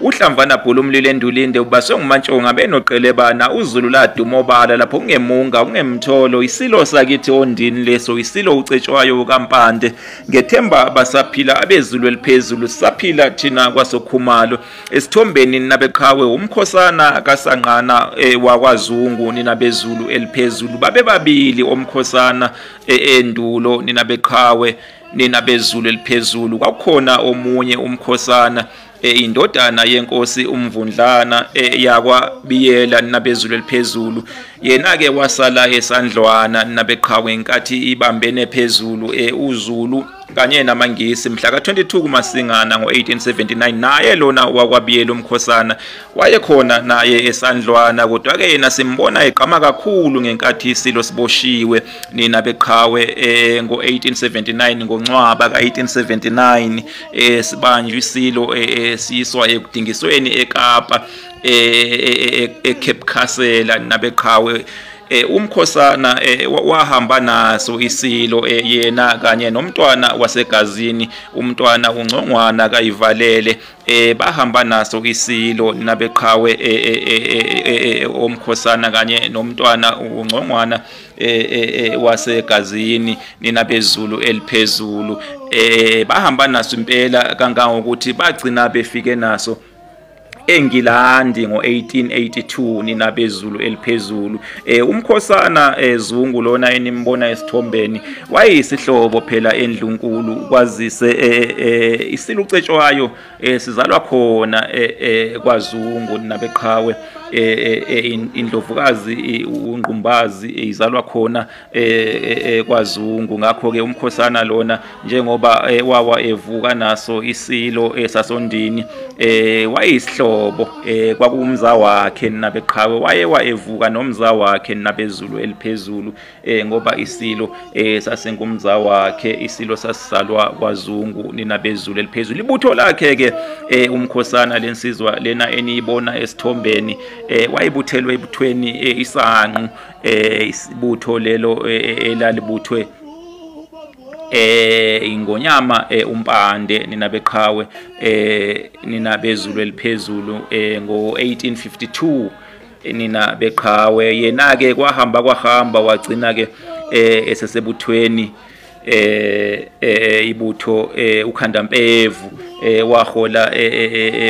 Uhlamvana Bhulumlilo endulinde ubaswe nguMantshonga benoqelebana uZulu laduma obala lapho kungemunga kungemtholo isilo sakithi ondini leso isilo ucetshwayo kaMpande ngethemba abasaphila abezulu eliphezulu saphila thina kwasokhumalo esithombeni nabeqhawe umkhosana kaSanqana e, wakwaZungu nina bezulu eliphezulu babebabili omkhosana e, endulo nina beqhawe nina bezulu eliphezulu kwakukhona omunye umkhosana Eh, indodana yenkosi umvundlana eh, yakwa biyela nabezulu eliphezulu yena ke wasala esandlwana nabeqhawe inkathi ibambene phezulu eh, uzulu kanye namangisi mhla ka-22 kumasingana ngo-1879 naye lona wakwabiyela umkhosana wayekhona naye esandlwana kodwa-ke yena simbona egqama kakhulu ngenkathi isilo siboshiwe nina beqhawe um ngo-1879 ngoncwaba ka-1879 eh sibanjwe isilo esiyiswa ekudingisweni eKapa eCape Castle nabeqhawe eh umkhosana eh, wahamba naso isilo eh, yena kanye nomntwana wasegazini umntwana uncongwana kayivalele eh bahamba naso isilo nabeqhawe eh, eh, eh, eh, eh, eh, omkhosana kanye nomntwana uncongwana eh, eh, eh wasegazini nina bezulu eliphezulu eh bahamba naso impela kangangokuthi bagcina befike naso eNgilandi ngo1882 nina bezulu eliphezulu eh umkhosana eh, Zungu lona enimbona esithombeni wayisihlobo phela endlunkulu kwazise eh, eh, isilucetshwayo eh sizalwa khona eh, eh kwaZungu nabeqhawe eh, eh, indlovukazi ungqumbazi izalwa khona kwaZungu ngakho ke umkhosana lona njengoba wawa evuka naso isilo esasondini eh wayisihlobo eh kwakumza wakhe nabeqhawe waye waevuka nomza wakhe nabezulu eliphezulu eh ngoba isilo eh sasenkumza wakhe isilo sasisalwa kwaZungu nina bezulu eliphezulu ibutho lakhe ke eh umkhosana lensizwa lena eniyibona esithombeni eh wayibuthelwe ebuthweni eh, isanqu eh isibutho lelo eh, eh, elalibuthwe eh ingonyama eh, umpande nina beqhawe eh nina bezulu eliphezulu eh ngo 1852 nina beqhawe yena ke kwahamba kwahamba wagcina ke eh esesebuthweni eh, eh ibutho eh, ukhanda mpevu eh, wahola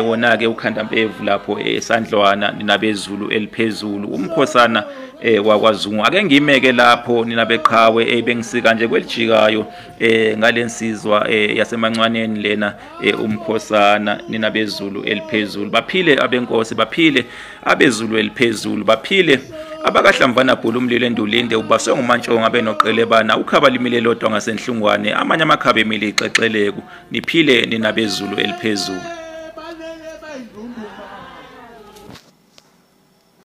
wona ke ukhanda mpevu lapho esandlwana ninabezulu eliphezulu umkhosana eh wakwazungu ake ngimeke lapho nina beqhawe ebengisika nje kwelijikayo eh ngalensizwa yasemancwaneni lena e umkhosana nina bezulu eliphezulu baphile abenkosi baphile abezulu eliphezulu baphile abakahlamvana bhulu umlilo endulinde ubaswe ngumantshonga benoqelebana ukhaba limile lodwa ngasenhlungwane amanye amakhaba emile ixexeleku niphile nina bezulu eliphezulu